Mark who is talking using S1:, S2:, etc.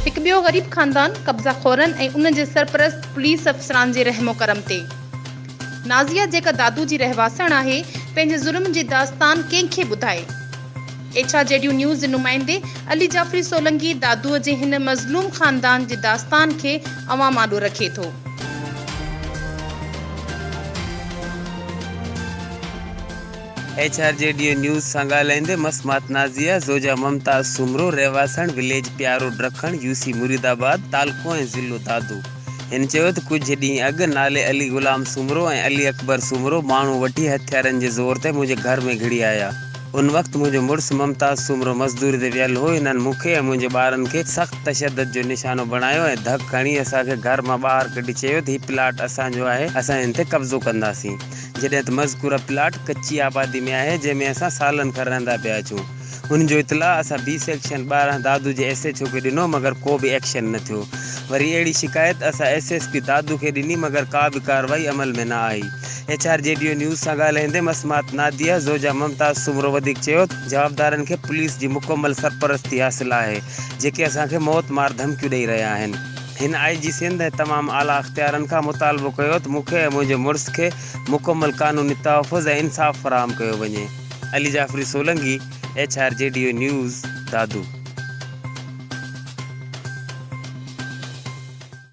S1: هڪ ٻيو غريب خاندان قبضا خورن ۽ ان جي سرپرست پوليس افسران جي رحم و ڪرم تي. نازيه جيڪا دادو جي رهواسڻ آهي، پنهنجي ظلم جي داستان ڪنهن کي ٻڌائي؟ ايڇ آر جي ڊيو نيوز جي نمائندي علي جعفري سولنگي دادوء جي هن مظلوم خاندان جي داستان کي عوام آڏو رکي ٿو.
S2: ايڇ آر جي ڊيو نيوز سان ڳالهائيندي مسمات نازيه زوجها ممتاز سومرو رهواسڻ وليج پيارو ڊرکڻ يو سي مريد آباد تعلقو ۽ ضلعو دادو هن چيو ته ڪجهه ڏينهن اڳ نالي علي غلام سومرو ۽ علي اڪبر سومرو ماڻهو وٺي هٿيارن جي زور تي منهنجي گهر ۾ گهڙي آيا ان وقت منهنجو مڙس ممتاز سومرو مزدوري تي ويل هو. هنن مون کي ۽ منهنجي ٻارن کي سخت تشدد جو نشانو بڻايو ۽ ڌڪ هڻي اسان کي گهر مان ٻاهر ڪڍي چيو ته هي پلاٽ اسان جو آهي، اسان هن تي قبضو ڪنداسين. جڏهن ته مذڪوره پلاٽ ڪچي آبادي ۾ آهي، جنهن ۾ اسان سالن کان رهندا پيا اچون. ان جو اطلاع اسان بي سيڪشن ٻارهن دادو جي ايس ايڇ او کي ڏنو مگر ڪو به ايڪشن نه ٿيو. وري اهڙي شڪايت اسان ايس ايس پي دادو کي ڏني مگر ڪا به ڪارروائي عمل ۾ نه آئي. ايڇ آر جي ڊيو نيوز سان ڳالهائيندي مسمات ناديه زوجها ممتاز سومرو وڌيڪ چيو ته جوابدارن کي پوليس جي مڪمل سرپرستي حاصل آهي جيڪي اسان کي موت مار ڌمڪيون ڏئي رهيا آهن. هن آء جي سنڌ ۽ تمام اعليٰ اختيارن کان مطالبو ڪيو ته مون کي ۽ منهنجي مڙس کي مڪمل قانوني تحفظ ۽ انصاف فراهم ڪيو وڃي. Ali Jafri Solangi, H R G ڊيو نيوز، دادو.